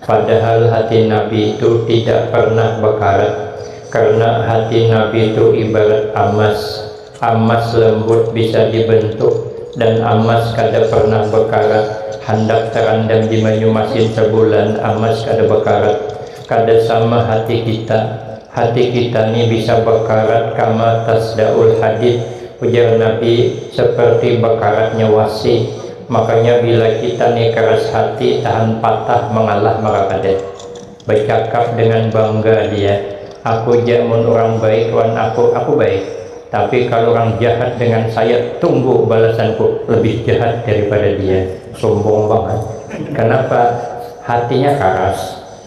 Padahal hati Nabi tu tidak pernah bekarat, karena hati Nabi tu ibarat amas, amas lembut bisa dibentuk, dan amas kada pernah bekarat, handak terandam di manyu masin sebulan amas kada bekarat, kada sama hati kita, Hati kita ni bisa bakarat kama tasdaul hadid, ujar Nabi, seperti bakaratnya wasi. Makanya bila kita ni keras hati tahan patah mangalah maka kada. Becakap dengan bangga dia, aku ja mun urang baik wan aku, aku baik. Tapi kalu urang jahat dengan saya, tunggu balasanku lebih jahat daripada dia. Sumbung bangat. Kenapa? Hatinya karas.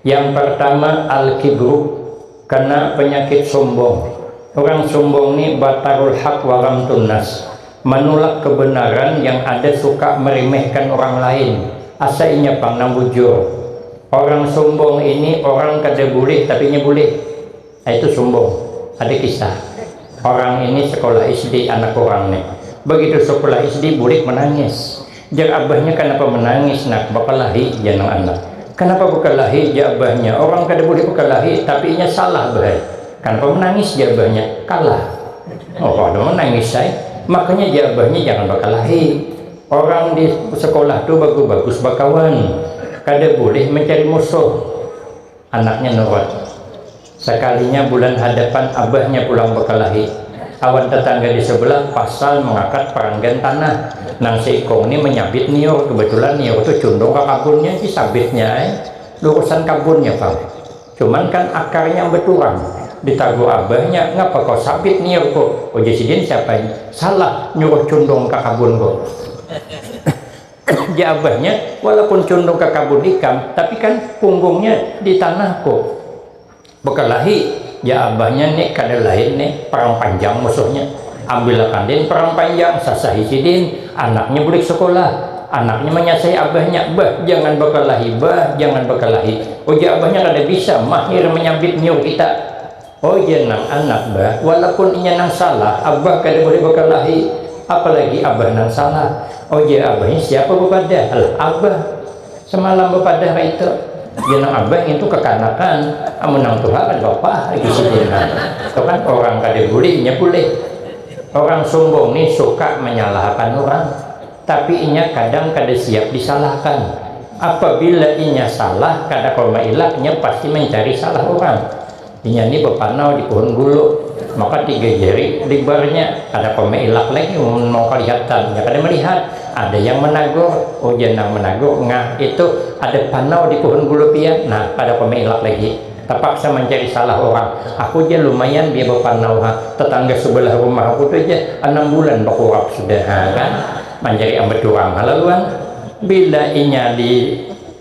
Yang partama al-kibru, kena penyakit sombong. Urang sombong ni batarul haq wa ghamtun nas, manulak kebenaran yang ada suka meremehkan orang lain, asa inya pang nang bujur. Orang sombong ini orang kada bulih tapi inya bulih. Itu sumbung. Ada kisah. Orang ini sekolah SD anak urang nih. Begitu sekolah SD bulik menangis. Jar abahnya kanapa menangis nak, bekelahi jar nang anak. Kanapa bekelahi jar abahnya, orang kada boleh bekelahi tapi inya salah bah ai. Kanapa menangis jar abahnya, kalah. Oh kada menangis ai. Makanya jar abahnya jangan bekelahi. Orang di sekolah tu bagus-bagus bekawan. Kada boleh mencari musuh. Anaknya nurut. Sakalinya bulan hadapan abahnya pulang bakalahi. Awan tatangga di sabelah pasal mangakat paranggan tanah. Nang saikung ni manyabit niur. Kabatulan niur tu cundung ka kabunnya si sabitnya ai. Lurusan kabunnya pang. Cuman kan akarnya baturang. Ditagur abahnya, ngapa ko sabit niurku? Ujar sidin, siapa ini? Salah, nyuruh cundung ka kabunku. Jar abahnya, walaupun cundung ka kabun ikam, tapi kan punggungnya di tanah ko. Bekelahi, jar abahnya ni kada lain ni Perang Panjang musuhnya. Ambil akan din Perang Panjang, sasahi sidin, anaknya bulik sekolah. Anaknya manyasahi abahnya, bah jangan bekelahi bah, jangan bekelahi. Ujar abahnya kada bisa, mahir menyabit nyiur kita. Oh iya nang anak bah, walapun inya nang salah, abah kada boleh bakalahi, apalagi abah nang salah. Oh iya abahnya siapa bapadah? Alah abah samalam bapadah kaitu. Iya nang abah ngintu kakanakan, amun nang tuha kada papah lagi sidin ha. Itu kan orang kada bulih inya bulih. Orang sumbung ni suka manyalahakan urang, tapi inya kadang kada siap disalahakan. Apabila inya salah kada kawa mailak inya pasti mancari salah urang. Inya ni bapanau di puhun gulu, maka tiga jari libarnya, kada apa mailak lagi mun mau kalihatan, inya kada malihat. Ada yang managur, ujar nang managur, ngah itu ada panau di puhun gulu pian, nah kada apa mailak lagi, tapaksa mancari salah urang, aku ja lumayan biar bapanau ha, tatangga subalah rumah aku tu ja anam bulan bakurap sudah ha kan, mancari ambat urang ha laluan. Bila inya di.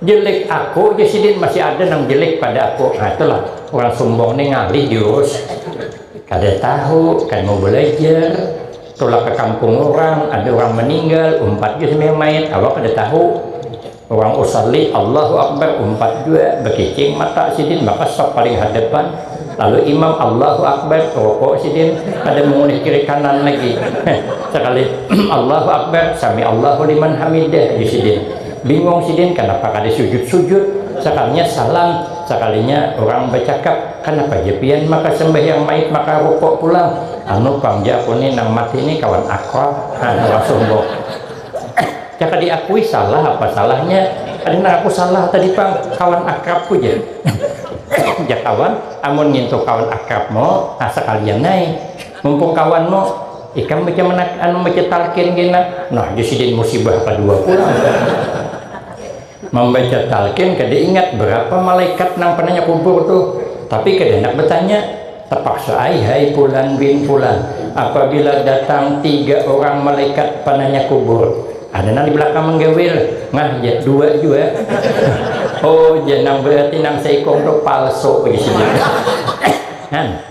Jelik aku ja sidin masih ada nang jelik pada aku nah itu lah urang sumbung ni ngalih diurus kada tahu kada mau balajar tulak ka kampung urang ada urang maninggal umpat jua sambil main awak kada tahu urang usalli allahu akbar umpat jua bakicing mata sidin maka sap paling hadapan lalu imam allahu akbar ruku sidin kada maulah kiri kanan lagi heh sakali allahu akbar samiallahu liman hamidah ja sidin. Bingung sidin kanapa kada sujud-sujud, sakalinya salam, sakalinya urang bacakap, kanapa ja pian maka sambahyang mait maka rukuk pulang, anu pang ja aku ni nang mati ni kawan akrab, ha urang sumbung. Jaka diakui salah apa salahnya, ada nang aku salah tadi pang, kawan akrabku ja. Jak kawan, amun ngintu kawan akrabmu, ha sakalian ai. Mumpung kawan mu, ikam baca menak anu baca talqin kena, nah ja sidin musibah kadua pulang. Mambaca talqin kada ingat berapa malaikat nang penanya kubur tuh, tapi kada handak bertanya, terpaksa ai hai fulan bin fulan, apabila datang tiga orang malaikat penanya kubur, ada nang di belakang menggawil, ngah ja dua jua. Oh ja nang berarti nang seikung tuh palsu, ujar sidin.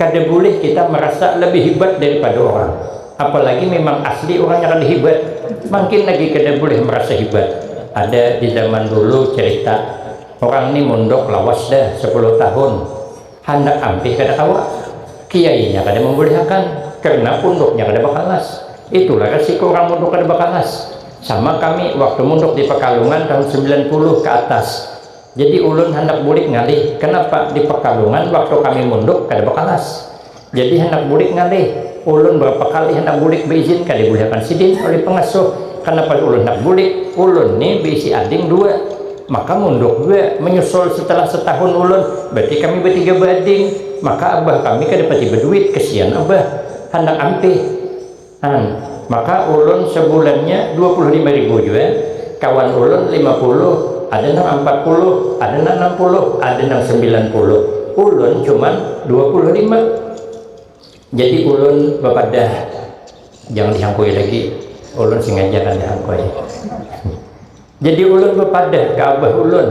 kada boleh kita merasa lebih hebat daripada orang apalagi memang asli orangnya kada hebat makin lagi kada boleh merasa hebat ada di zaman dulu cerita orang ni mondok lawas dah sepuluh tahun handak ampih kada kawa kiainya kada membolehakan karena punduknya kada bakalas itulah resiko orang mondok kada bakalas sama kami waktu mondok di pekalongan tahun sembilan puluh ke atas. Jadi ulun handak bulik ngalih, kanapa di Pekalongan waktu kami munduk kada bakalas. Jadi handak bulik ngalih, ulun barapa kali handak bulik baizin kada dibulihakan sidin oleh pangasuh. Kanapa ulun handak bulik, ulun ni baisi ading dua, maka munduk jua manyusul setelah setahun ulun, berarti kami batiga baading, maka abah kami kada pati baduit, kasian abah, handak ampih. An, maka ulun sebulannya dua puluh lima ribu jua, kawan ulun lima puluh, ada nang ampat puluh, ada nang anam puluh, ada nang sembilan puluh, ulun cuman dua puluh lima. Jadi ulun bapadah, jangan dihangkui lagi, ulun sengaja kada hangkui. Jadi ulun bapadah ka abah ulun,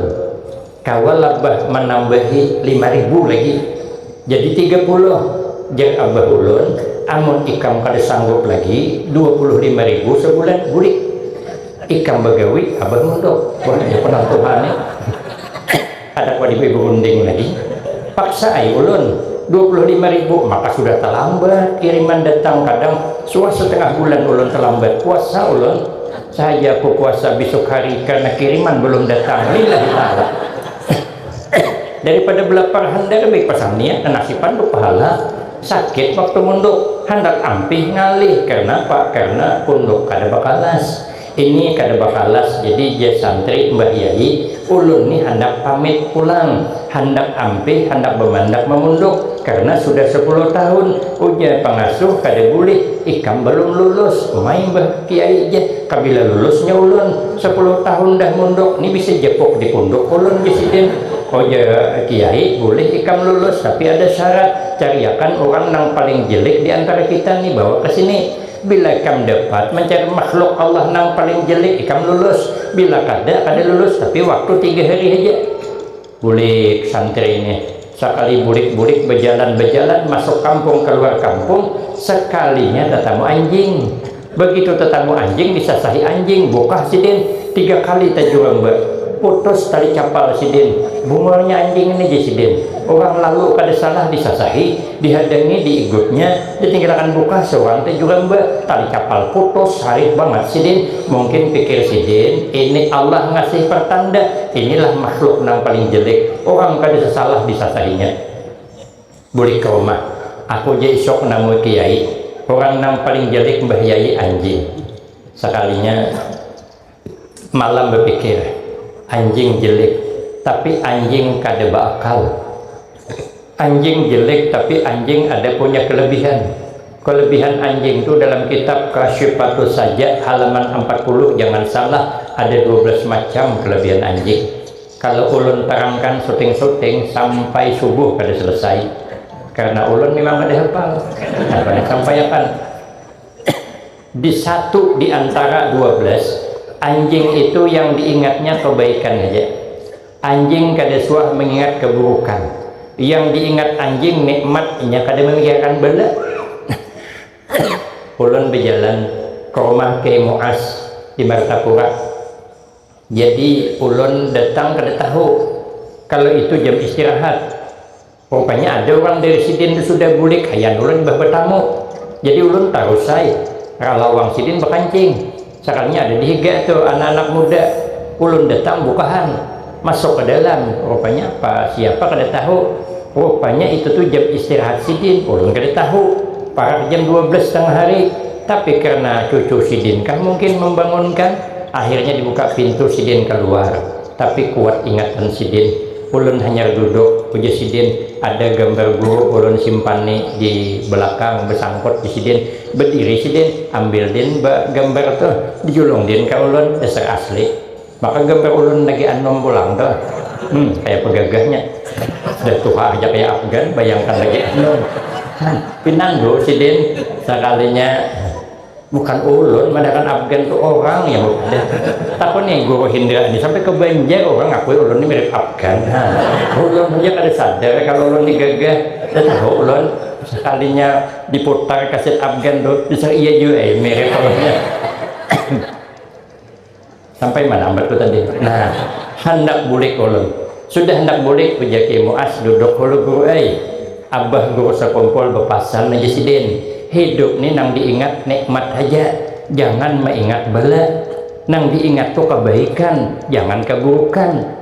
kawa lah bah manambahi lima ribu lagi, jadi tiga puluh, jar abah ulun, amun ikam kada sanggup lagi dua puluh lima ribu sabulan bulik ikam bagawi abah munduk. Wah hanyar penantuhan nih. Kada kawa diberi berunding lagi, paksa ai ulun, dua puluh lima ribu, maka sudah talambat kiriman datang, kadang suah setengah bulan ulun talambat puasa ulun, sahaja aku puasa bisuk hari karena kiriman belum datang, lillahi taala. Daripada belapar handar lebih pasang niat nanasipan tu pahala, sakit waktu munduk, handar ampih ngalih, karna apa, karna punduk kada bakalas. Ini kada bakalas jadi jar santri, Mbah Yai, ulun ni handak pamit pulang, handak ampih handak bamandak mamunduk karna sudah sapuluh tahun, ujar pangasuh kada bulih, ikam balum lulus, umai Mbah Kiai jar, kabila lulusnya ulun, sapuluh tahun dah munduk ni bisa japuk di punduk ulun jar sidin, ujar Kiai, bulih ikam lulus tapi ada syarat, cariakan urang nang paling jelik di antara kita ni bawa ka sini. Bila ikam dapat mancari makhluk Allah nang paling jelek, ikam lulus. Bila kada, kada lulus, tapi waktu tiga hari haja. Bulik santri nih. Sakali bulik-bulik bajalan-bajalan masuk kampung kaluar kampung, sakalinya tatamu anjing. Bagitu tatamu anjing disasahi anjing, bukah sidin. Tiga kali tajuramba. Putus tali capal sidin. Bungulnya anjing ini, jar sidin. Urang lalu kada salah disasahi, dihadangi diigutnya. Ditingkirakan buka suan te jua mba, tali kapal putus, harit bangat sidin, mungkin pikir sidin ini Allah ngasih pertanda, inilah makhluk nang paling jelek, urang kada sasalah disasahinya. Bulik ke rumah, aku ja isuk namui ke yai, urang nang paling jelek mbah yai anjing. Sakalinya. Malam bepikir, anjing jelik tapi anjing kada beakal. Anjing jelik tapi anjing ada punya kelebihan. Kelebihan anjing tu dalam kitab Kasyifatus Sajak halaman ampat puluh jangan salah ada dua belas macam kelebihan anjing. Kalau ulun terangkan suting-suting sampai subuh kada selesai. Karena ulun mimang kada hafal. Nah, sampai akan. Di satu di antara dua belas, anjing itu yang diingatnya kebaikan haja. Anjing kada suah mengingat keburukan. Yang diingat anjing nikmat, inya kada memikirkan bala. Ulun bejalan ke rumah Kiai Muaz di Martapura. Jadi ulun datang kada tahu kalau itu jam istirahat. Rupanya ada urang dari sidin tu sudah bulik ayan ulun imbah batamu. Jadi ulun tarus ai ralawang sidin bakancing. Sakalnya ada di higa tu anak-anak muda. Ulun datang bukahan, masuk ka dalam. Rupanya apa siapa kada tahu. Rupanya itu tu jam istirahat sidin. Ulun kada tahu. Parak jam dua belas tangah hari. Tapi karna cucu sidin kah mungkin mambangunkan, akhirnya dibuka pintu sidin kaluar. Tapi kuat ingatan sidin. Ulun hanyar duduk, ujar sidin, ada gambar guru ulun simpan ni di belakang besangkut di sidin. Bediri sidin, ambil din ba gambar tu, dijulung din ka ulun, dasar asli. Maka gambar ulun lagi anum pulang tu. Hm, kayapa gagahnya. Sudah tuha haja kaya Afgan, bayangkan lagi anum. Hm, pinandu sidin sakalinya. bukan ulun madakan Afgan tu orang ya udah takun nih guru Hindra nih sampai ke Banjar orang ngakui ulun nih mirip Afgan ha. ulun saja kada sadar kalau ulun nih gagah dah tahu ulun sekalinya diputar kaset Afgan tu bisa iya jua eh mirip Sampai mana ambat ku tadi? Nah, handak bulik ulun. Sudah handak bulik, ujar Kiai Muaz, duduk hulu guru ai. Abah guru sakumpul bepasan aja sidin, hidup ni nang diingat nikmat haja, jangan maingat bala. Nang diingat tu kabaikan, jangan kaburukan.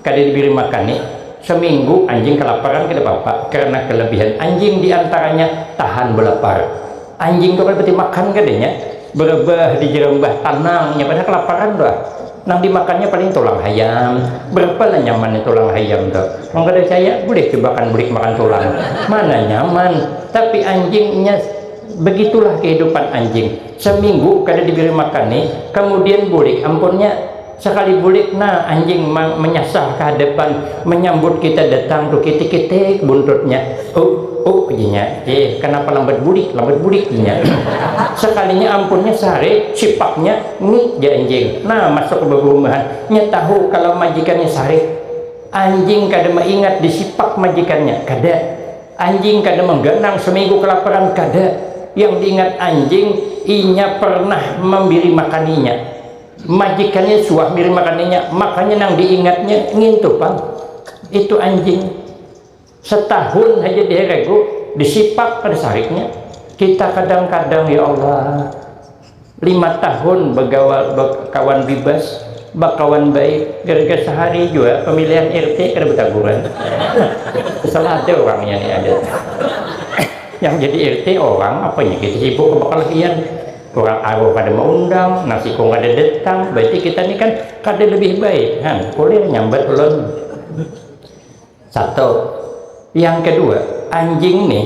Kada dibiri makan ni, saminggu anjing kalaparan kada papa karna kalabihan anjing diantaranya tahan balapar. Anjing tu kada pati makan kadanya, barabah di jarambah tanangnya padahal kalaparan tu ah. Nang dimakannya paling tulang hayam, barapa lah nyamannya tulang hayam tu. Mun kada caya bulih cubakan bulik makan tulang, mana nyaman. Tapi anjing nya bagitulah kahidupan anjing, saminggu kada dibiri makan ni kamudian bulik ampunnya. Sakali bulik na anjing mang menyasah ka hadapan menyambut kita datang tu kitik-kitik buntutnya. Uk, uk jinya. Ih, kanapa lambat bulik, lambat bulik jinya. Sakalinya ampunnya sarik, sipaknya, ngik jar anjing. Na masuk ka babahumahan. Nya tahu kalau majikannya sarik. Anjing kada maingat di sipak majikannya, kada. Anjing kada mangganang saminggu kalaparan, kada. Yang diingat anjing, inya pernah mambiri makan inya. Majikannya suah biri makannya, makanya nang diingatnya ngintu pang, itu anjing. Setahun haja diheregu, disipak kada sariknya. Kita kadang-kadang ya Allah, lima tahun bagawa bakawan bibas, bakawan baik, gara-gara sahari jua pamilihan RT kada bataguran. Salah ada urangnya nih ada. Yang jadi RT orang, apanya kita sibuk bakalahian. Urang aruh kada maundang, nang sikung kada datang, berarti kita ni kan kada lebih baik. Ha, kulir nyambat ulun. Satu. Yang kedua, anjing ni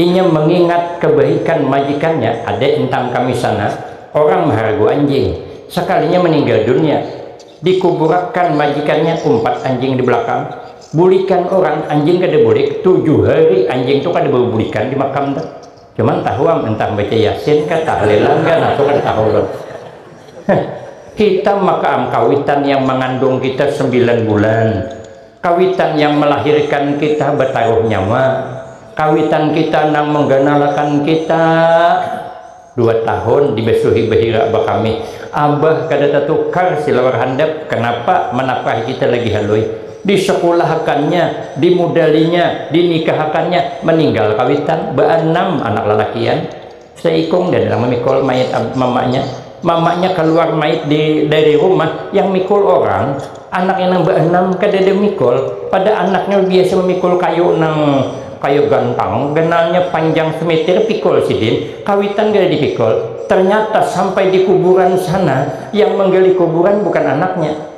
inya mengingat kebaikan majikannya, ada intang kami sana orang maharagu anjing, sekalinya meninggal dunia dikuburakan majikannya umpat anjing di belakang, bulikan orang anjing kada bulik, tujuh hari anjing tu kada babulikan di makam tu. Cuman tahu am entah baca yasin kah tahlilan kah nah kan tahu kan. kita maka am kawitan yang mengandung kita sembilan bulan. Kawitan yang melahirkan kita bertaruh nyawa. Kawitan kita nang mengganalakan kita dua tahun dibesuhi behira bakami. Abah kada tatukar silawar handap kenapa menapkahi kita lagi halui. Disekulahakannya, dimudalinya, dinikahakannya, meninggal kawitan baanam anak lalakian, seikung dan nang mamikul mayit mamanya, mamanya kaluar mayit di dari rumah yang mikul orang, anaknya nang baanam kadada mikul, pada anaknya biasa mamikul kayu nang kaya gantang, ganalnya panjang semitir pikul sidin, kawitan kada dipikul, ternyata sampai di kuburan sana yang manggali kuburan bukan anaknya.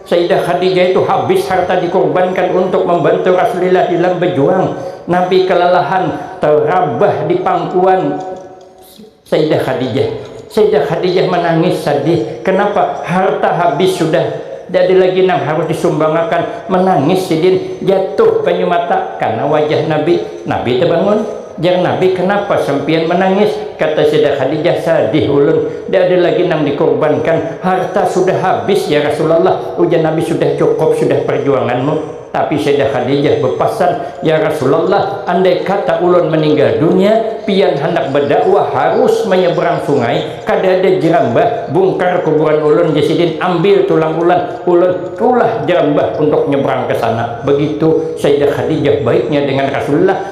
Sayyidah Khadijah itu habis harta dikurbankan untuk membantu Rasulillah dalam bejuang. Nabi kelelahan, terabah di pangkuan Sayyidah Khadijah. Sayyidah Khadijah menangis sadih. Kenapa? Harta habis sudah. Tidak ada lagi nang harus disumbangakan. Menangis sidin. Jatuh banyu mata karena wajah Nabi. Nabi tebangun. Jar Nabi, Kanapa sampiyan manangis? Kata Sayyidah Khadijah, Sadih ulun, nda ada lagi nang dikurbankan. Harta sudah habis ya Rasulullah, ujar Nabi, sudah cukup sudah parjuanganmu. Tapi Sayyidah Khadijah bapasan, Ya Rasulullah, andai kata ulun maninggal dunia, pian handak badakwah harus manyabrang sungai, kada ada jerambah, bungkar kuburan ulun ja sidin, ambil tulang ulan ulun, ulah jerambah untuk nyabrang ka sana. Begitu Sayyidah Khadijah baiknya dengan Rasulullah.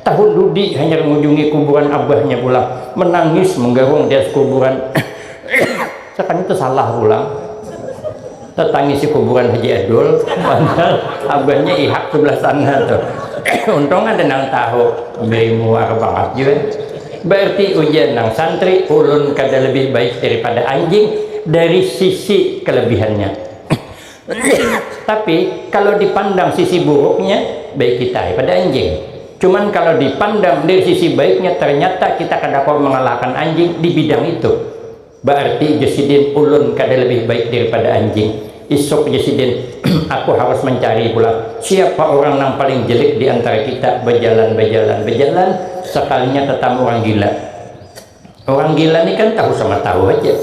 Tahun dudi hanyar ngunjungi kuburan abahnya pulang, menangis menggarung di atas kuburan. Sakalinya tersalah pulang, tertangisi kuburan Haji Adul, padahal abahnya ihak sebelah sana tuh. Untung ada nang tahu, beri muar banget jua. Berarti ujar nang santri, ulun kada lebih baik daripada anjing dari sisi kelebihannya. Tapi kalau dipandang sisi buruknya, baik kita pada anjing. Cuman kalau dipandang dari sisi baiknya, ternyata kita kada kawa mengalahkan anjing di bidang itu. Berarti Jusidin ulun kada lebih baik daripada anjing. Isuk Jusidin, aku harus mencari pulang siapa orang nang paling jelek di antara kita, bejalan, bejalan, bejalan, sekalinya tetamu orang gila. Orang gila ni kan tahu sama tahu aja.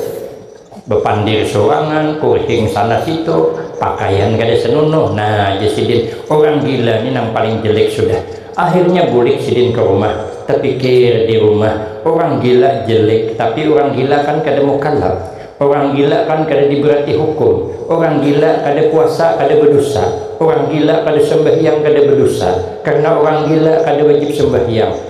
Bepandir sorangan, kurting sana situ, pakaian kada senunuh. Nah, jar sidin, orang gila ni nang paling jelek sudah. Akhirnya bulik sidin ke rumah, tepikir di rumah, orang gila jelek, tapi orang gila kan kada mukallaf. Orang gila kan kada diberati hukum. Orang gila kada puasa kada bedosa. Orang gila kada sembahyang kada bedosa. Karena orang gila kada wajib sembahyang.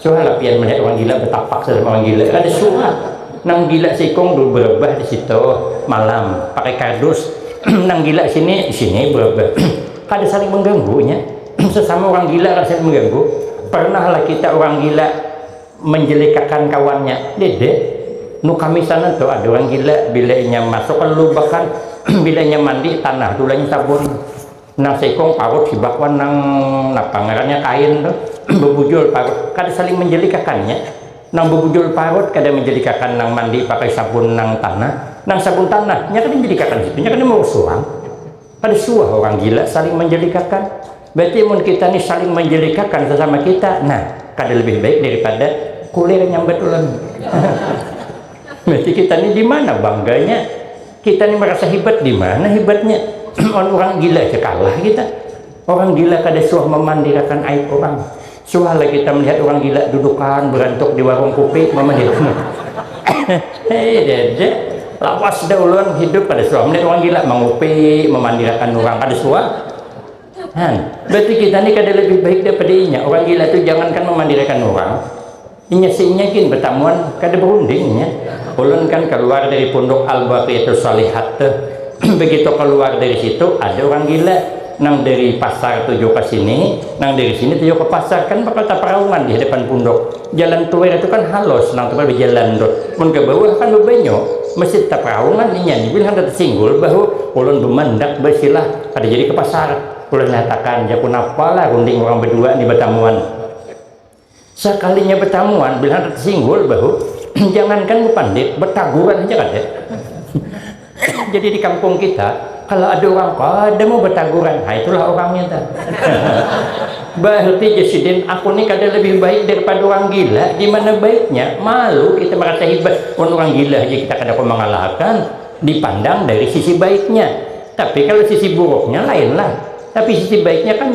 Suah lah pian melihat orang gila betapak sama orang gila. Kada suah. Nang gila sikung dulu berebah di situ malam pakai kardus. Nang gila sini di sini berebah. kada saling mengganggunya. Sesama orang gila kada saling mengganggu. Pernah lah kita orang gila menjelekakan kawannya. Dede, nu kami sana tu ada orang gila bila inya masuk ke lubakan bila inya mandi tanah tu lah inya sabun. Nang seikung parut hibak wan nang napa ngarannya kain tu bebujul parut kada saling menjelikakannya nang bebujul parut kada menjelikakan nang mandi pakai sabun nang tanah nang sabun tanah nya kada menjelikakan situ nya kada meurus urang kada suah urang gila saling menjelikakan berarti mun kita ni saling menjelikakan sesama kita nah kada lebih baik daripada kulir nyambat ulun berarti kita ni di mana bangganya Kita ni merasa hebat di mana hebatnya? Wan orang gila aja kalah kita. Orang gila kada suah memandirakan aib orang. Suah lah kita melihat orang gila dudukan berantuk di warung kupi memandirakan. Hehehe, lawas dah ulun hidup kada suah melihat orang gila mengupi, memandirakan orang kada suah. Han, berarti kita ni kada lebih baik daripada inya. Orang gila tu jangankan memandirakan orang, Inya seinya gin betamuan kada berunding nya. Ulun kan kaluar dari punduk Al Baqiatus Shalihat tu. Begitu kaluar dari situ ada urang gila nang dari pasar tuju ka sini, nang dari sini tuju ka pasar, kan bakal taparaungan di hadapan punduk. Jalan Tuer tu kan halus nang tempat bajalan tu. Mun ka bawah kan babanyu, mesti taparaungan inya ni gin handak tasinggul bahu. Ulun bamandak basilah, kada jadi ka pasar. Ulun nyatakan ja, kunapa lah runding urang badua ni batamuan. Sakalinya betamuan, bila handak singgul bahu, jangankan bepandit, betaguran aja kada. Jadi di kampung kita, kalau ada orang kada mau betaguran, nah itulah orangnya ta. Berarti Jasidin, aku ni kada lebih baik daripada orang gila, di mana baiknya, malu kita merasa hebat, mun orang gila aja kita kada kawa mangalahakan, dipandang dari sisi baiknya. Tapi kalau sisi buruknya lainlah, tapi sisi baiknya kan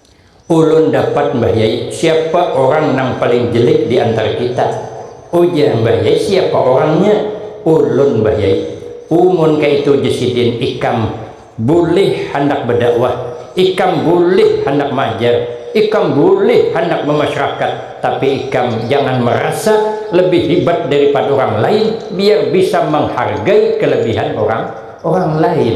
Ulun dapat Mbah Yai, siapa orang nang paling jelek di antara kita? ujar Mbah Yai, siapa orangnya? ulun Mbah Yai, umun kaitu ja sidin ikam bulih handak badakwah, ikam bulih handak maajar, ikam bulih handak bamasyrakat, tapi ikam jangan marasa lebih hibat daripada orang lain biar bisa manghargai kelebihan orang orang lain.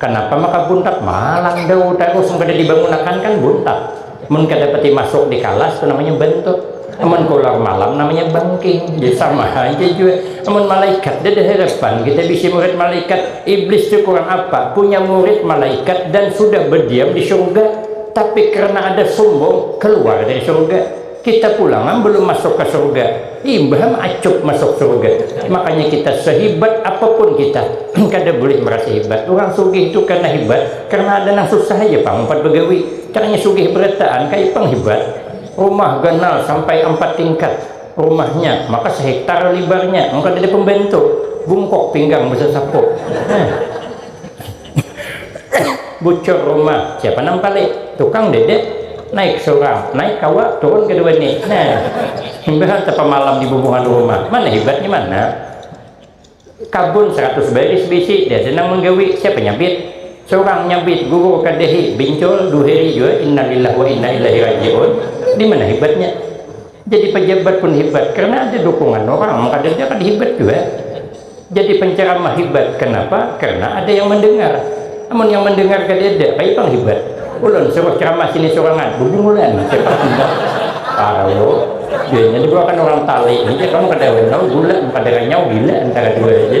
Kanapa maka buntat malang dau ta usung kada dibangunakan kan buntat mun kada pati masuk di kalas tu namanya bantut amun kaluar malam namanya bangking jadi sama haja jua amun malaikat dada harapan kita bisi murid malaikat iblis tu kurang apa punya murid malaikat dan sudah berdiam di surga tapi karena ada sumbung kaluar dari surga Kita pulang am belum masuk ka surga, imbah am acup masuk surga. Makanya kita sehibat apapun kita kada bulih merasa hibat. Urang sugih tu kena hibat karena ada nang susah haja pang umpat begawi. Caranya sugih berataan kaya pang hibat. Rumah ganal sampai ampat tingkat rumahnya, maka sehektar libarnya, mun kadada pembantu bungkuk pinggang besasapu. Nah. Bucur rumah, siapa nang palit? Tukang dede, naik surang, naik kawa, turun kedua ni. Nah, imbah tapamalam di bubungan rumah, mana hibat ni mana? Kabun saratus baris bisi, dada nang manggawi, siapa nyabit? Surang nyabit, gugur kadahi, bincul, duheri jua, innalillah wa inna ilaihi raji'un, di mana hibatnya? Jadi pajabat pun hibat karna ada dukungan urang, mun kadada kada hibat jua. Jadi penceramah hebat kenapa? Karena ada yang mendengar. Namun yang mendengar kada ada, kayak pang hebat. Ulun suruh ceramah sini surangan, bubungulan. Parah lo, biasanya juga kan orang tali ini kan kada wenau gula, kada renyau gila antara dua aja.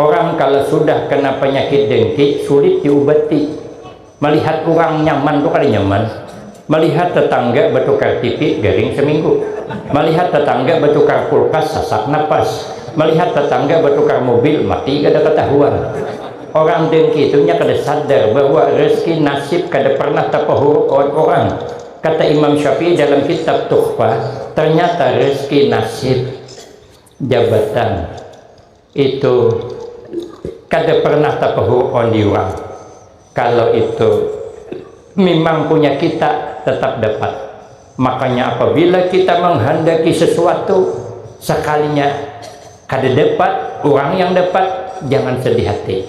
Orang kalo sudah kena panyakit dengki sulit diubati. Malihat urang nyaman tu kada nyaman. Malihat tetangga batukar tipi garing saminggu. Malihat tetangga batukar kulkas sasak napas. Malihat tetangga batukar mobil mati kada katahuan. Orang dengki tu nya kada sadar bahwa rezeki nasib kada pernah tapahurup awan urang. Kata Imam Syafi'i dalam kitab Tuhfah, ternyata rezeki nasib, jabatan, Itu kada pernah tapahur on diurang kalo itu mimang punya kita tetap dapat makanya apabila kita menghandaki sesuatu sekalinya kada dapat urang yang dapat jangan sedih hati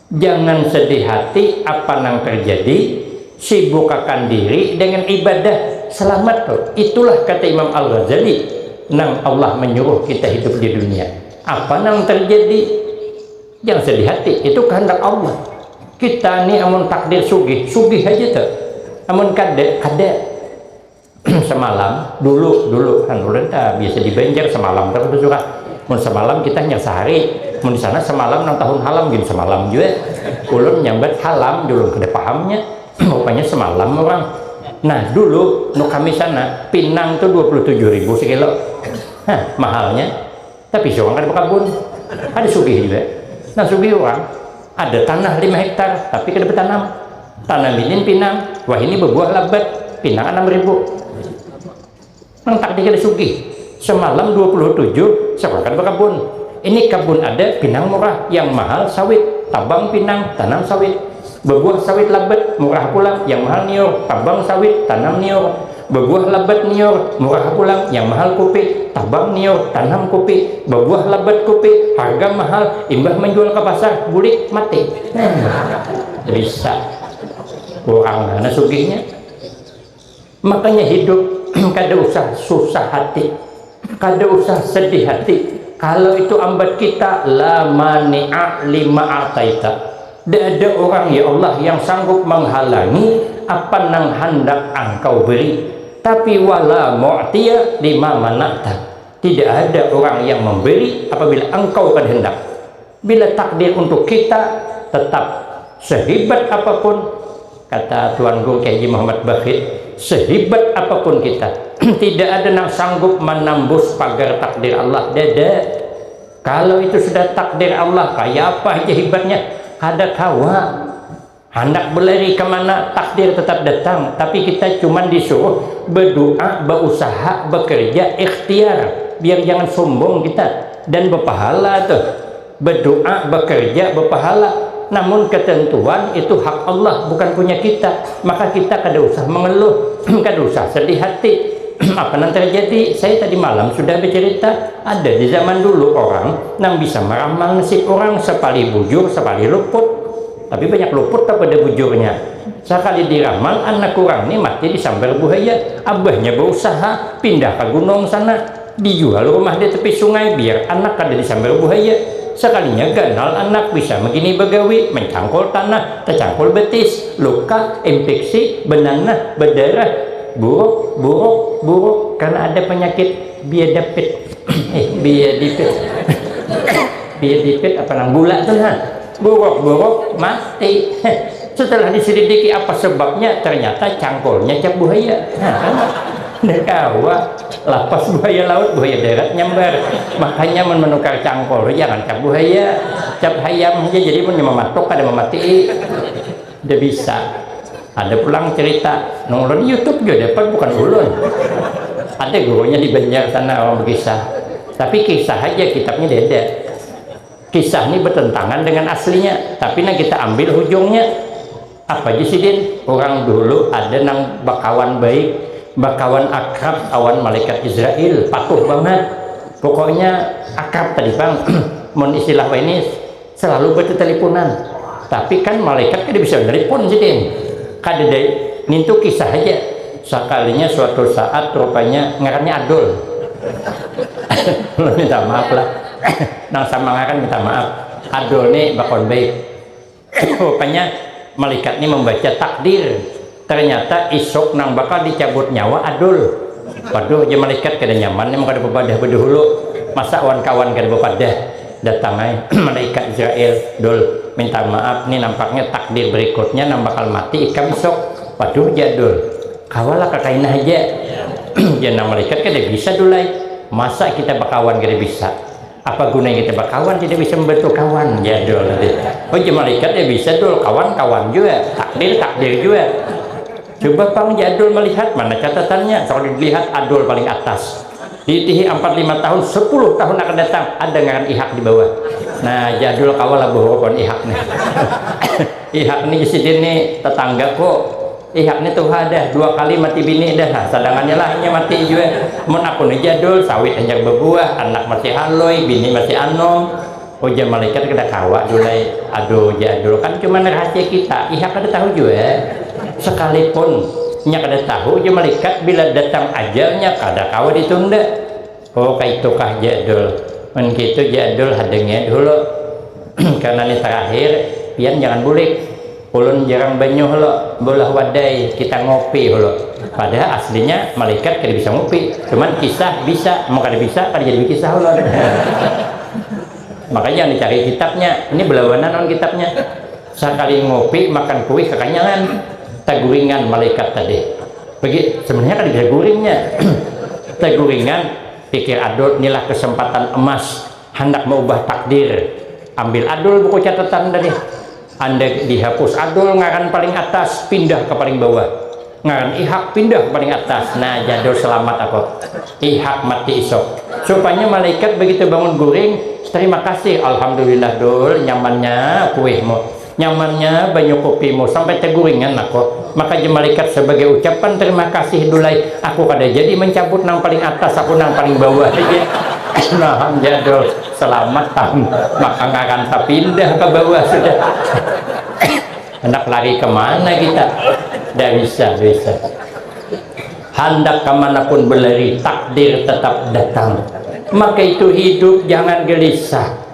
Jangan sedih hati apa nang terjadi, sibukakan diri dengan ibadah, selamat tu. Itulah kata Imam Al-Ghazali nang Allah menyuruh kita hidup di dunia. Apa nang terjadi, jangan sedih hati, itu kehendak Allah. Kita ni amun takdir sugih, sugih haja tu. Amun kada, kada. semalam dulu dulu kan ulun ta biasa di Banjar semalam ta kada surat mun semalam kita hanya sehari mun di sana semalam nang tahun halam gin semalam jua ulun nyambat halam dulu kada pahamnya rupanya semalam orang nah dulu nu kami sana pinang tu dua puluh tujuh ribu sekilo ha mahalnya Tapi seorang kada berkabun, kada sugih juga. Nah sugih orang ada tanah lima hektar tapi kada bertanam. Tanam ini pinang, wah ini berbuah labat, pinang enam ribu. Nang tak dikira sugih, semalam 27 seorang kada berkabun. Ini kebun ada pinang murah, yang mahal sawit, tabang pinang, tanam sawit. Bebuah sawit labat, murah pulang, yang mahal niur, tabang sawit, tanam niur. Bebuah labat niur, murah pulang, yang mahal kupi, tabang niur, tanam kupi. Bebuah labat kupi, harga mahal, imbah manjual ka pasar, bulik, mati. Nah, bisa. Kurang mana sugihnya. Makanya hidup kada usah susah hati, kada usah sedih hati, kalau itu ambat kita la mani'a lima ataita, da ada urang ya Allah yang sanggup manghalangi apa nang handak Angkau beri, tapi wa la mu'tiya lima mana'ta, tidak ada urang yang memberi apabila Engkau kada handak. Bila takdir untuk kita tetap sehibat apapun, kata Tuan Guru Kiai Haji Muhammad Bakhit, sehibat apapun kita, tidak ada nang sanggup manambus pagar takdir Allah, dada. Kalau itu sudah takdir Allah, kaya apa haja hibatnya, kada kawa. Handak belari ka mana, takdir tetap datang, tapi kita cuman disuruh bedoa, beusaha, bekerja, ikhtiar, biar jangan sombong kita, dan bepahala tuh, bedoa, bekerja, bepahala, namun ketentuan itu hak Allah bukan punya kita, maka kita kada usah mengeluh, kada usah sedih hati, apa nang terjadi, saya tadi malam sudah becerita, ada di zaman dulu orang nang bisa meramal nasib orang, sapalih bujur, sapalih luput. Tapi banyak luput apa dah bujurnya. Sakali diramal anak urang ni mati disambar buhaya. Abahnya bausaha pindah ka gunung sana. Dijual rumah di tepi sungai biar anak kada disambar buhaya. Sakalinya ganal anak bisa magini bagawi, mancangkul tanah, tacangkul betis, luka, impiksi, benanah, bedarah, buruk, buruk, buruk karena ada panyakit biadapit. Eh, biadipit. Biadipit apa nang gula tu nah. Buruk-buruk mati. Setelah diselidiki apa sebabnya, ternyata cangkulnya cap buhaya. Nda kawa lapas buhaya laut, buhaya darat nyambar. Makanya mun menukar cangkul tu jangan cap buhaya, cap hayam haja jadi munnya mamatuk kada mamatii. Nda bisa. Ada pulang cerita, nang ulun youtube jua dapat bukan ulun. Ada gurunya di Banjar sana orang bekisah. Tapi kisah haja kitabnya diada. Kisah ni bertentangan dengan aslinya, tapi nang kita ambil hujungnya. Apa ja sidin? Urang dulu ada nang bakawan baik, bakawan akrab awan malaikat Israil, patuh bangat. Pokoknya akrab tadi pang, mun istilah wayahini selalu berteteleponan. Tapi kan malaikat kada bisa nelpon sidin, kadada nintu kisah haja. Sakalinya suatu saat rupanya ngarannya Adul. Ulun minta maaf lah. Nang sama ngaran minta maaf. Adul ni bakon baik. Rupanya malikat ni mambaca takdir. Ternyata isuk nang bakal dicabut nyawa Adul. Waduh jar malikat kada nyaman ni mun kada bapadah badahulu. Masa wan kawan kada bapadah. Datang ai malaikat Israel, Dul, minta maaf nih nampaknya takdir berikutnya nang bakal mati ikam isuk. Waduh jar Dul, kawa lah kakaina haja. Jar nang malaikat, kada bisa Dul ai, masa kita bakawan kada bisa. Apa gunanya kita bakawan tidak bisa membantu kawan jar Dul. Oh jar malaikat, ya bisa Dul, kawan kawan jua, takdir takdir jua. Cuba pang ja Adul malihat, mana catatannya, kalu dilihat Adul paling atas. Diitihi ampat lima tahun, sapuluh tahun akan datang, ada ngaran Ihak di bawah. Nah, ja Adul kawa lah bahurup lawan Ihak nih. Ihak nih, jar sidin nih, tatangga ko. Ihak nih tuha dah, dua kali mati bini dah, sadangannya lah inya mati jua. Mun aku nih ja Adul, sawit hanyar babuah, anak masih haloi, bini masih anom. Ujar malaikat kada kawa dulu ai, aduh ujar dulu kan cuman rahasia kita, iha kada tahu jua, sekalipun nya kada tahu ujar malaikat bila datang ajal nya kada kawa ditunda, oh kaitukah jar dul, mun kitu jar dul hadangi ai dahulu karna ni terakhir pian jangan bulik. Ulun jarang banyuh lo, beulah wadai kita ngopi lo. Padahal aslinya malaikat kada bisa ngopi, cuman kisah bisa, mun kada bisa kada jadi bekisah ulun. Makanya jangan dicari kitabnya, ini belawanan lawan kitabnya. Sakali ngopi makan kuih kakanyangan, taguringan malaikat tadi. Bagi, sebenarnya kada bisa guringnya. taguringan, pikir adul inilah kesempatan emas Handak maubah takdir, ambil adul buku catatan tadi. Andai dihapus adul ngaran paling atas, pindah ka paling bawah. Ngaran Ihak pindah ka paling atas. Nah, jadul selamat aku. Ihak mati isuk. Supanya malaikat begitu bangun guring, terima kasih, alhamdulillah dul, nyamannya kuihmu. Nyamannya banyu kopimu sampai teguringan nako, maka ja malaikat sebagai ucapan terima kasih dulai aku kada jadi mencabut nang paling atas aku nang paling bawah haja naham ja dul selamat tam maka ngaran tapindah ka bawah sudah handak lari ka mana kita da bisa bisa handak ka mana pun belari takdir tetap datang maka itu hidup jangan gelisah.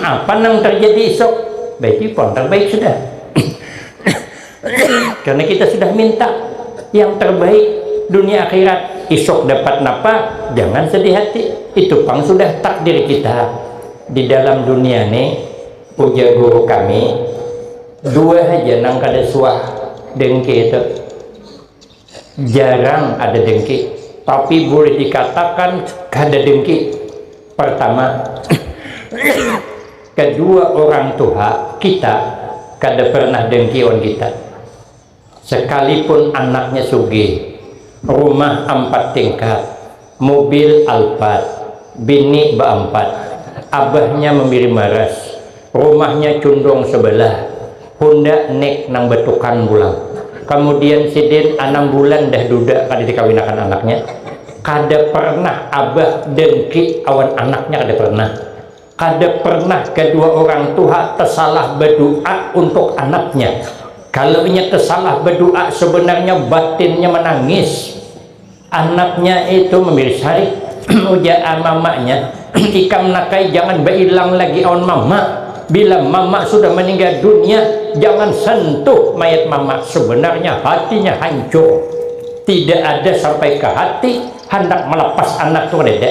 Apa nang terjadi esok? By default terbaik sudah. Karena kita sudah minta yang terbaik dunia akhirat. Esok dapat napa? Jangan sedih hati. Itu pang sudah takdir kita. Di dalam dunia nih, ujar guru kami, dua haja nang kada suah dengki itu. jarang ada dengki tapi boleh dikatakan kada dengki pertama kedua orang tuha kita kada pernah dengki wan kita sekalipun anaknya sugih rumah ampat tingkat Mubil Alphard, bini baampat, abahnya mambiri maras, rumahnya cundung sabalah, Honda Nik nang batukan pulang. Kamudian sidin anam bulan dah duda kada dikawinakan anaknya. Kada pernah abah dengki awan anaknya kada pernah. Kada pernah kadua urang tuha tasalah badua untuk anaknya. Kalau inya tasalah badua sabanarnya batinnya manangis. Anaknya itu mambilis hari, ujar mamanya, ikam nakai jangan bailang lagi awan mama, bila mama sudah maninggal dunia jangan sentuh mayat mama, sebenarnya hatinya hancur, tidak ada sampai ke hati handak melepas anak tu kadada.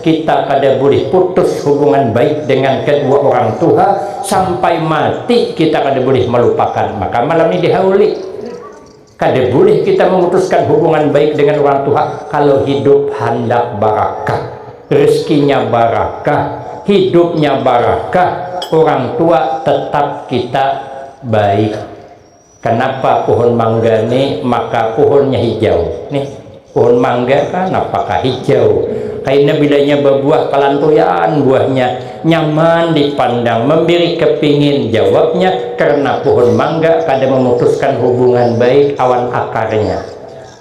Kita kada bulih putus hubungan baik dengan kedua orang tuha sampai mati kita kada bulih malupakan maka malam ni dihauli kada bulih kita memutuskan hubungan baik dengan orang tuha kalau hidup handak barakah rezekinya barakah hidupnya barakah orang tua tetap kita baik. Kanapa puhun mangga ni maka puhunnya hijau? Nih, puhun mangga kanapakah hijau? Kaina bilanya babuah kalantuyan buahnya, nyaman dipandang, mambiri kapingin. Jawabnya, karna puhun mangga kada mamutuskan hubungan baik awan akarnya.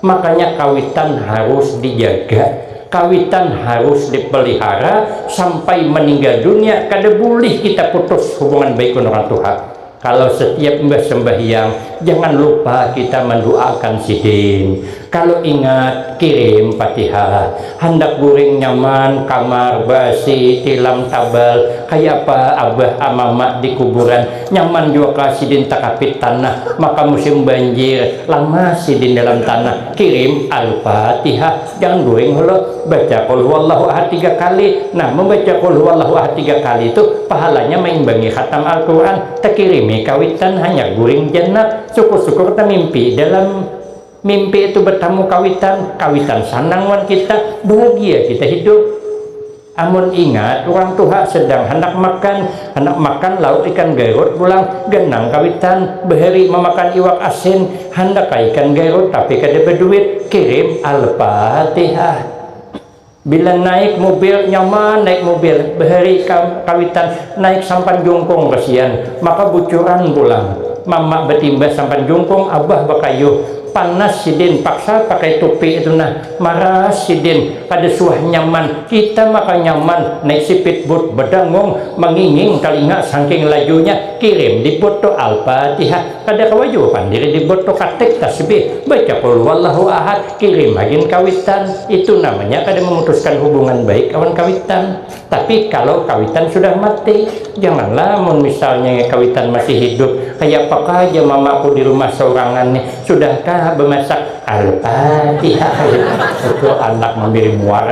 Makanya kawitan harus dijaga, kawitan harus dipelihara sampai meninggal dunia kada bulih kita putus hubungan baik wan orang tuha. Kalau setiap imbah sembahyang jangan lupa kita manduaakan sidin. Kalau ingat kirim Fatihah. Handak guring nyaman, kamar, basi, tilam, tabal, kaya apa abah a mama di kuburan Nyaman jua kah sidin takapit tanah maka musim banjir lamas sidin dalam tanah. Kirim Al-Fatihah jangan guring holo. Baca Qul Huwallahu Ahad tiga kali. Nah mambaca Qul Huwallahu Ahad tiga kali tu pahalanya maimbangi khatam Al-Quran. Takirimi kawitan hanyar guring janab. Sukur-sukur tamimpi dalam mimpi tu batamu kawitan. Kawitan sanang wan kita. Bahagia kita hidup. Amun ingat, urang tuha sedang handak makan, handak makan lauk ikan garut pulang, ganang kawitan, bahari mamakan iwak asin, handak ka ikan garut tapi kada baduit, kirim Al-Fatihah. Bila naik mubil, nyaman naik mubil, bahari ka kawitan, naik sampan jungkung kasian, maka bucuran pulang, mama batimbas sampan jungkung, abah bakayuh, panas sidin, paksa pakai tupi itu nah. Maras sidin, kada suah nyaman, kita maka nyaman naik sipit bud bedangung manginging talinga sangking lajunya, kirim di bud tu Al-Fatihah, kada kawa jua pang diri di bud tu katik tasbih, baca Qulhuwallahu Ahad, kirim hagin kawitan, itu namanya kada memutuskan hubungan baik awan kawitan. Tapi kalau kawitan sudah mati, janganlah mun misalnya kawitan masih hidup, kaya apakah aja mamaku di rumah saurangan nih, sudahkah bemasak? Al-Fatihah itu anak memberi muar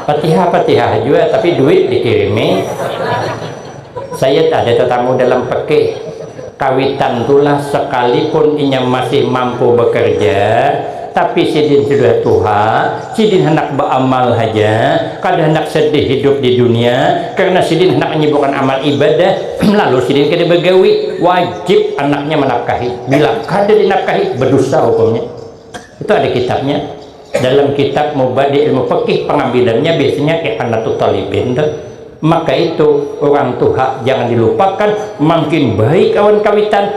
Fatihah-Fatihah jua tapi duit dikirimi. Sayyid ada tatamu dalam pekih kawitan tulah sekalipun inya masih mampu bekerja tapi sidin sudah tuha sidin handak beamal haja kada handak sedih hidup di dunia karena sidin handak anyibukan amal ibadah lalu sidin kada begawi wajib anaknya menapkahi bila kada dinapkahi bedusa hukumnya Itu ada kitabnya. Dalam kitab Mubadi Ilmu Fikih pengambilannya biasanya Ihanatu Talibin tuh. Maka itu orang tuha jangan dilupakan makin baik awan kawitan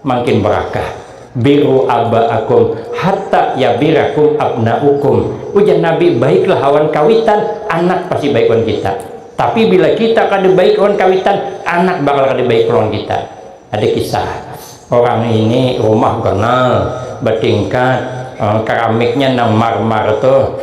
makin berakah biru abaakum hatta yabirakum abnaukum ujar Nabi baiklah awan kawitan anak pasti baik awan kita tapi bila kita kada baik awan kawitan anak bakal kada baik awan kita Ada kisah, orang ini rumah ganal, batingkat, karamiknya nang marmar tuh,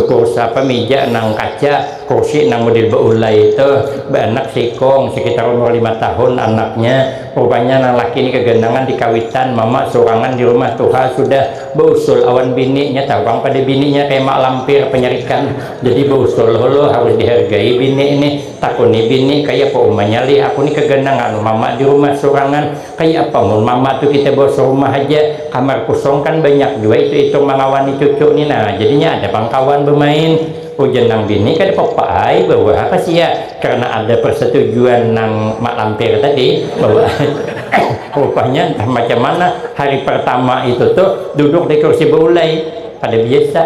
kursa apa mija nang kaca, kursi nang model baulai tuh, baanak seikung, sekitar umur lima tahun anaknya, rupanya nang laki ini kaganangan di kawitan, mama surangan di rumah, tuha sudah, bausul awan bini, nyata pang pada bininya kaya mak lampir, panyarikan, jadi bausul hulu harus dihargai bini ini. Takuni bini, kaya apa umanya lih, aku ni kaganang anu mama di rumah surangan, kaya apa mun mama tu kita bawa sarumah haja, kamar kusong kan banyak jua itu ikam mangawani cucu ni nah, jadinya ada pang kawan bamain, ujar nang bini, kada papa ai bawa ha ka sia, karna ada persetujuan nang mak lampir tadi, bawa ai, rupanya entah macam mana hari pertama itu tu duduk di kursi baulai, kada biasa.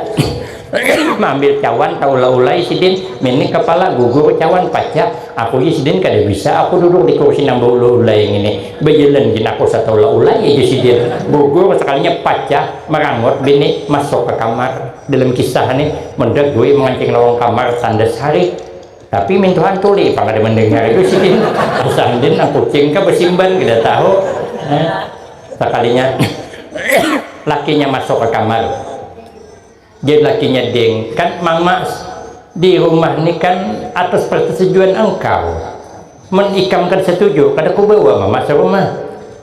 Maambil cawan taula-ulai sidin, minik kapala gugur cawan pacak, aku ja sidin kada bisa aku duduk di kursi nang baula-ulai ngini, bajalan gin aku sataula-ulai aja sidin, gugur sakalinya pacak, marangut bini masuk ka kamar, dalam kisah ni meda Gui mangancing lawang kamar tandas hari, tapi mintuhan tuli pang kada mandangar jua sidin, asa andin nang kucing kah basimban kada tahu, sakalinya lakinya masuk ka kamar. Jar lakinya, Ding, kan Mamas di rumah ni kan atas persetujuan engkau. Mun ikam kada setuju, kada kubawa Mamas rumah.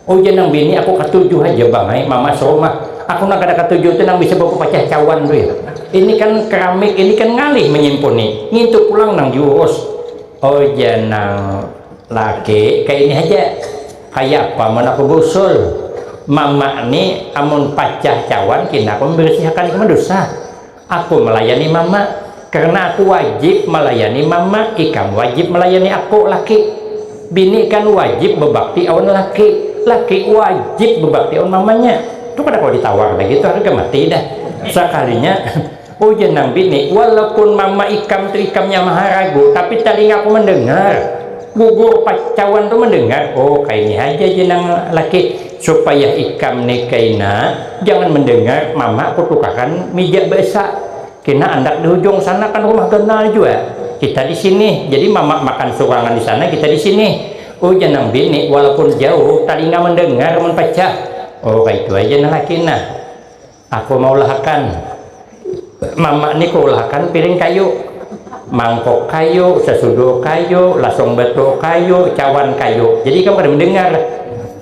Ujar nang bini, Aku katuju haja bang ai Mamas rumah. Aku nang kada katuju tu nang bisa bapapacah cawan tu ya. Ini kan keramik ini kan ngalih manyimpuni, ngintu pulang nang diurus. Ujar nang laki, Kaini haja. Kayapa mun aku bausul? Mama ni amun pacah cawan kina aku mambarisihakan kamar dusa. Aku malayani mama, karna aku wajib malayani mama, ikam wajib malayani aku, laki. Bini kan wajib babakti awan laki, laki wajib babakti awan mamanya. Tu kada kawa ditawar lagi tu harga mati dah sakalinya. Ujar nang bini, walaupun mama ikam tu ikamnya maharagu, tapi talingaku mandangar, gugur pacawan tu mandangar, oh kaini haja jar nang laki, supaya ikam ni kaina jangan mandangar mama kutukakan mija baasa, kina andak di hujung sana kan rumah ganal jua, kita di sini, jadi mama makan surangan di sana kita di sini, ujar nang bini, walaupun jauh talinga mandangar mun pacah, oh kaitu haja nang laki nah. Aku maulahakan. Mama ni kuulahakan piring kayu, mangkok kayu, sasuduh kayu, lasung batu kayu, cawan kayu. Jadi ikam kada mandangar.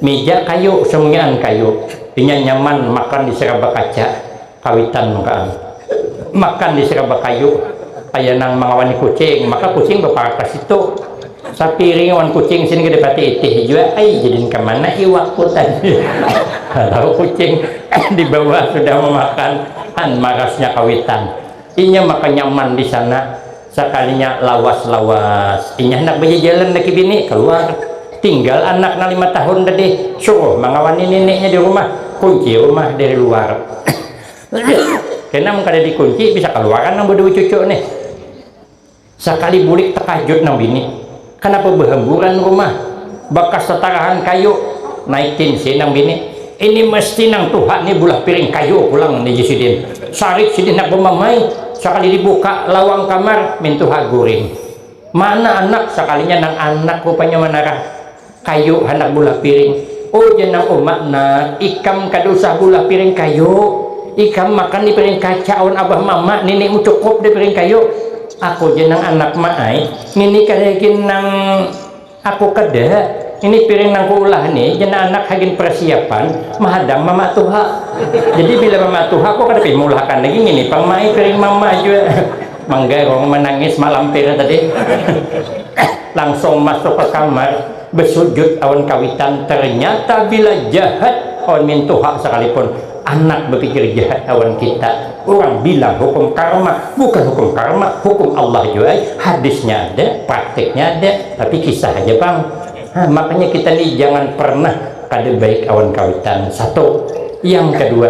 Mija kayu, samunyaan kayu. Inya nyaman makan di saraba kaca. Kawitan mangkaan. Makan di saraba kayu. Kaya nang mangawani kucing. Maka kucing baparak ka situ. Sapiring wan kucing sin kada pati itih jua ai jadin kamana iwak ku tadi. Tahu kucing di bawah sudah mamakan han marasnya kawitan. Inya maka nyaman di sana, sakalinya lawas lawas inya handak bajajalan laki bini kaluar. Tinggal anak nang lima tahun tadi suruh mangawani nininya di rumah, kunci rumah dari luar. Kena mun kada di kunci bisa kaluaran nang badua cucu nih. Sakali bulik takajut nang bini, kanapa bahamburan rumah, bakas tatarahan kayu, naik tinsi nang bini, ini mesti nang tuha ni bulah piring kayu pulang ni ji sidin, sarik sidin handak bamamai, sakali dibuka lawang kamar mintuha guring, mana anak sakalinya nang anak rupanya manarah. Kayu handak bulah piring. Ujar nang uma, Nak, ikam kada usah bulah piring kayu. Ikam makan di piring kaca awan abah mama, ninimu cukup di piring kayu. Aku ja nang anak ma ai, ngini kada gin nang aku kada. Ini piring nang kuulah ni ja nang anak hagin persiapan mahadang mama tuha. Jadi bila mama tuha aku kada pih maulah akan lagi, ngini pang ma ai piring mama jua. manggarung manangis malampir tadi langsung masuk ke kamar bersujud awan kawitan ternyata bila jahat awan mintuha sekalipun anak bepikir jahat awan kita urang bilang hukum karma bukan hukum karma hukum Allah jua ai hadisnya ada praktiknya ada tapi kisah haja pang ha, makanya kita ni jangan pernah kada baik awan kawitan satu yang kedua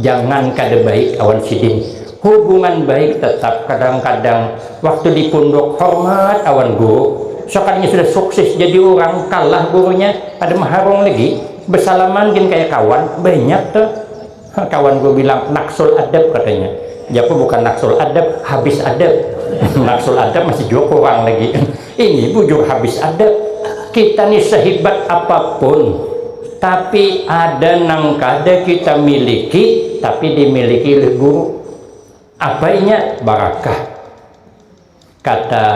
Jangan kada baik awan sidin, hubungan baik tetap kadang-kadang waktu di punduk hormat awan guru, sokadanya sudah sukses jadi urang kalah gurunya kada maharung lagi, besalaman gin kaya kawan, banyak tu kawan guru bilang naksul adab katanya, jaku bukan naksul adab, habis adab, naksul adab masih jua kurang lagi. Ini bujur habis ada. Kita ni sehibat apapun, tapi ada nang kada kita miliki, tapi dimiliki oleh guru. Apa inya? Barakah. Kata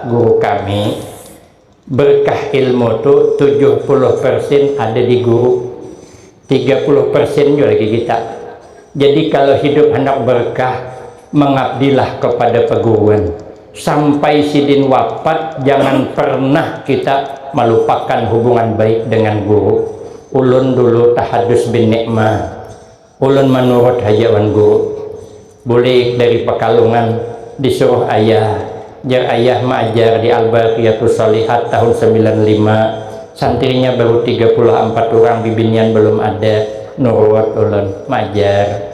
guru kami, berkah ilmu tu tujuh puluh persen ada di guru. Tiga puluh persen jua lagi kita. Jadi kalo hidup handak berkah, mengabdilah kepada peguruan. Sampai sidin wapat jangan pernah kita malupakan hubungan baik dengan guru. Ulun dulu tahadus bin nikma. Ulun manurut haja wan guru. Bulik dari Pekalongan, disuruh ayah, jar ayah maajar di Al-Baaqiyatus Shaalihaat tahun sambilan lima, santrinya baru tiga puluh ampat urang bibinian balum ada, nurut ulun, maajar.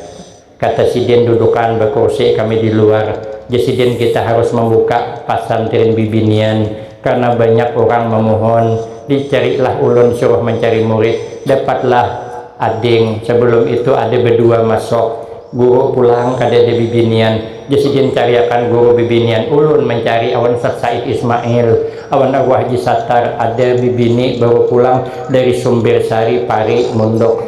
Kata sidin dudukan bakursi kami di luar, jar sidin kita harus mambuka pasantrin bibinian, karena banyak urang mamuhun, dicarilah ulun suruh mancari murid, dapatlah ading, sabalum itu ada badua masuk, Guru pulang kada ada bibinian, ja sidin cariakan guru bibinian ulun mancari awan Ustaz Said Ismail awan arwah Haji Sattar ada bibini baru pulang dari Sumbir Sari Pari Mundok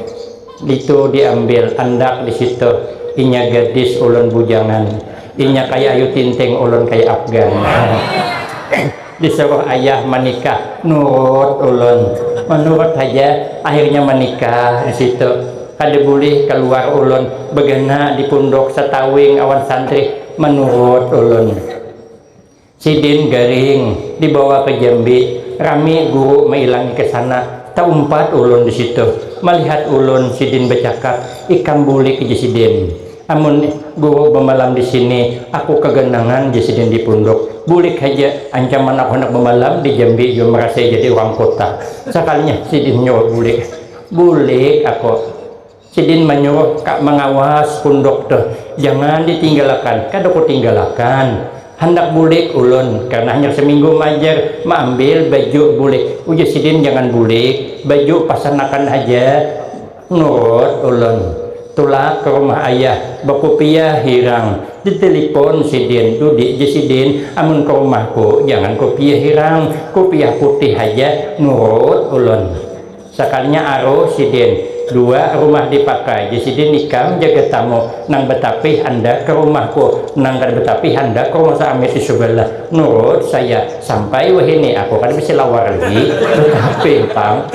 itu di ambil andak di situ inya gadis ulun bujangan inya kaya ayu tinting ulun kaya afgan. Disuruh ayah manikah, nurut ulun. Manurut haja, akhirnya manikah di situ. Kada bulih kaluar ulun, bagana di punduk satawing awan santri, manurut ulun. Sidin garing, dibawa ka Jambi, rami guru mailangi ka sana, taumpat ulun di situ. Malihat ulun, sidin bacakap, ikam bulik ja sidin. Amun Guru bamalam di sini, aku kaganangan ja sidin di punduk. Bulik haja, ancaman aku handak bamalam di Jambi jua marasai jadi urang kuta. Sakalinya sidin nyuruh bulik. Bulik aku. Sidin manyuruh ka mangawas punduk tu. Jangan ditinggalakan. Kada kutinggalakan. Handak bulik ulun, karna hanyar saminggu maajar. Maambil baju bulik. Ujar sidin jangan bulik. Baju pasanakan haja. Nurut ulun, tulak ka rumah ayah, bakupiah hirang, ditelepon sidin, dudik ja sidin, amun ka rumahku jangan kupiah hirang, kupiah putih haja, nurut ulun. Sakalinya aruh sidin, dua rumah dipakai ja sidin ikam jaga tamu, nang batapih andak ka rumahku, nang kada batapih handak ka rumah saamir di subalah, nurut saya, sampai wahini aku kada basilawar lagi, batapih pang.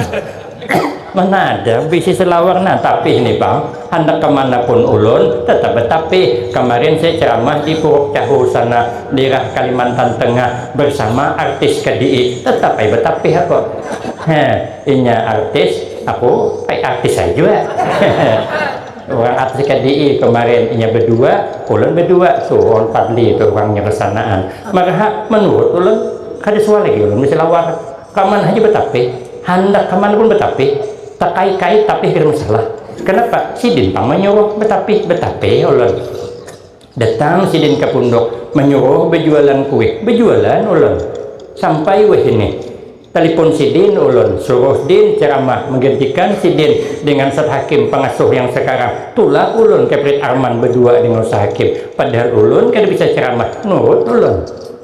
mana ada bisi selawar nah tapih nih bang handak kemana pun ulun tetap betapih kemarin saya ceramah di puruk cahu sana daerah kalimantan tengah bersama artis kedii tetap ai betapih aku he inya artis aku ai artis ai jua hehe urang artis kedii kemarin inya bedua ulun bedua suhun padli tu urangnya besanaan marha menurut ulun kada suah lagi ulun beselawar. Kaman haja batapih, handak kaman pun batapih, takait-kait tapih kada masalah. Kanapa? Sidin pang manyuruh batapih, batapih ulun. Datang sidin ka punduk, manyuruh bajualan kuih, bajualan ulun. Sampai wahini, talipun sidin ulun, suruh din caramah, manggantikan sidin dengan Ustaz Hakim, pangasuh yang sakarang. Tulak ulun ka Prit Arman badua dengan Ustaz Hakim. Padahal ulun kada bisa caramah, nurut ulun.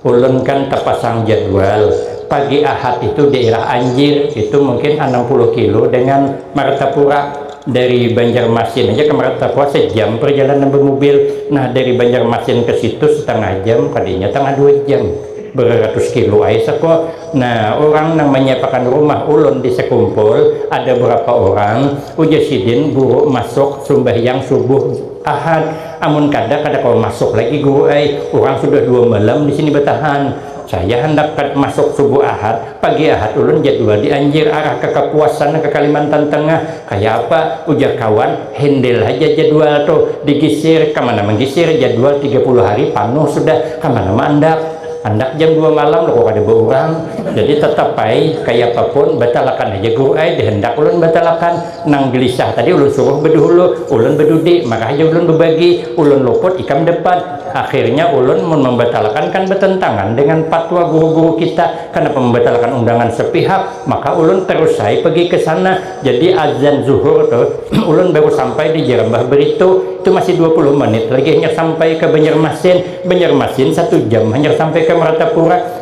Ulun kan tapasang jadwal, pagi Ahad itu dairah Anjir, itu mungkin anam puluh kilo dengan Martapura, dari Banjarmasin aja ke Martapura sejam perjalanan bamubil, nah dari Banjarmasin ke situ setangah jam, kadanya tangah dua jam, beraratus kilo ai seko, nah urang nang manyiapakan rumah ulun di Sekumpul ada berapa orang, ujar sidin guru masuk sumbahyang subuh Ahad, Amun kada, kada kawa masuk lagi Guru ai, urang sudah dua malam di sini batahan. Saya handak kad masuk subuh Ahad, pagi Ahad ulun jadwal di Anjir arah ka Kapuas sana ka Kalimantan Tengah. Kaya apa? ujar kawan, hindil haja jadwal tu, digisir, kamana manggisir, jadwal tiga puluh hari panuh sudah, kamana maandak. Andak jam dua malam loko kada baurang. Jadi tatap ai, kayapapun, batalakan haja Guru ai, dihandak ulun batalakan. Nang gelisah tadi ulun suruh beduhulu, ulun bedudi, marah ja ulun bebagi, ulun luput ikam depan. Akhirnya ulun mun membatalakan kan betentangan dengan patwa guru-guru kita, kanapa membatalakan undangan sepihak, maka ulun terus ai pegi ke sana. Jadi azan zuhur tu ulun baru sampai di Jerambah Beritu, itu masih dua puluh menit lagi hanyar sampai ke Banjarmasin, Banjarmasin satu jam hanyar sampai ke Meratapura.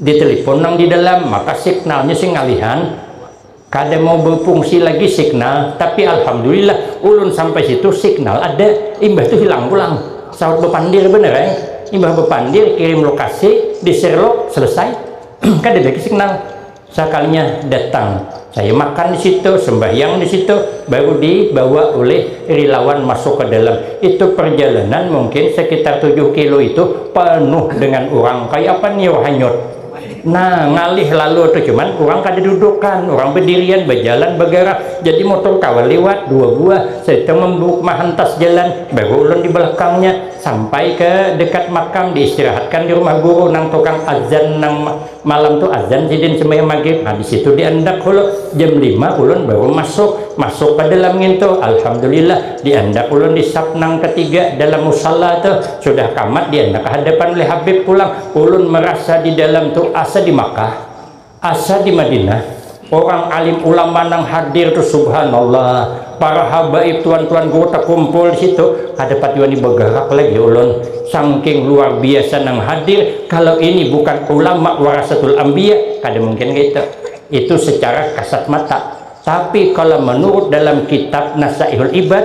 Di telepon nang di dalam, maka signalnya sing ngalihan, kada mau befungsi lagi signal, tapi alhamdulillah ulun sampai situ signal ada, imbah tu hilang pulang, sahut bepandir banar ai, imbah bepandir kirim lokasi, di sherlock, selesai, kada lagi signal, sakalinya datang. Saya makan di situ, sembahyang di situ, baru dibawa ulih rilawan masuk ke dalam. Itu perjalanan mungkin sekitar tujuh kilo itu penuh dengan urang, kaya apa niur hanyut. Nah, ngalih lalu tu, cuman urang kada dudukan, urang bedirian, bejalan, begerak, jadi motor kawa liwat, dua buah, serta membuk, mahantas jalan, baru ulun di belakangnya, sampai ke dekat makam, diistirahatkan di rumah guru nang tukang adzan nang. Malam tu azan sidin sembahyang magrib, habis itu diandak hulu, jam lima ulun baru masuk, masuk ka dalam ngintu, alhamdulillah diandak ulun di saf nang katiga dalam musalla tu, sudah kamat diandak ka hadapan oleh habib pulang, ulun marasa di dalam tu asa di makkah, asa di madinah. Orang alim ulama nang hadir tu subhanallah para habaib tuan-tuan guru takumpul di situ kada pati wani bagarak lagi ulun sangking luar biasa nang hadir kalau ini bukan ulama warasatul ambiya kada mungkin kaitu itu secara kasat mata tapi kalau menurut dalam kitab nasaihul ibad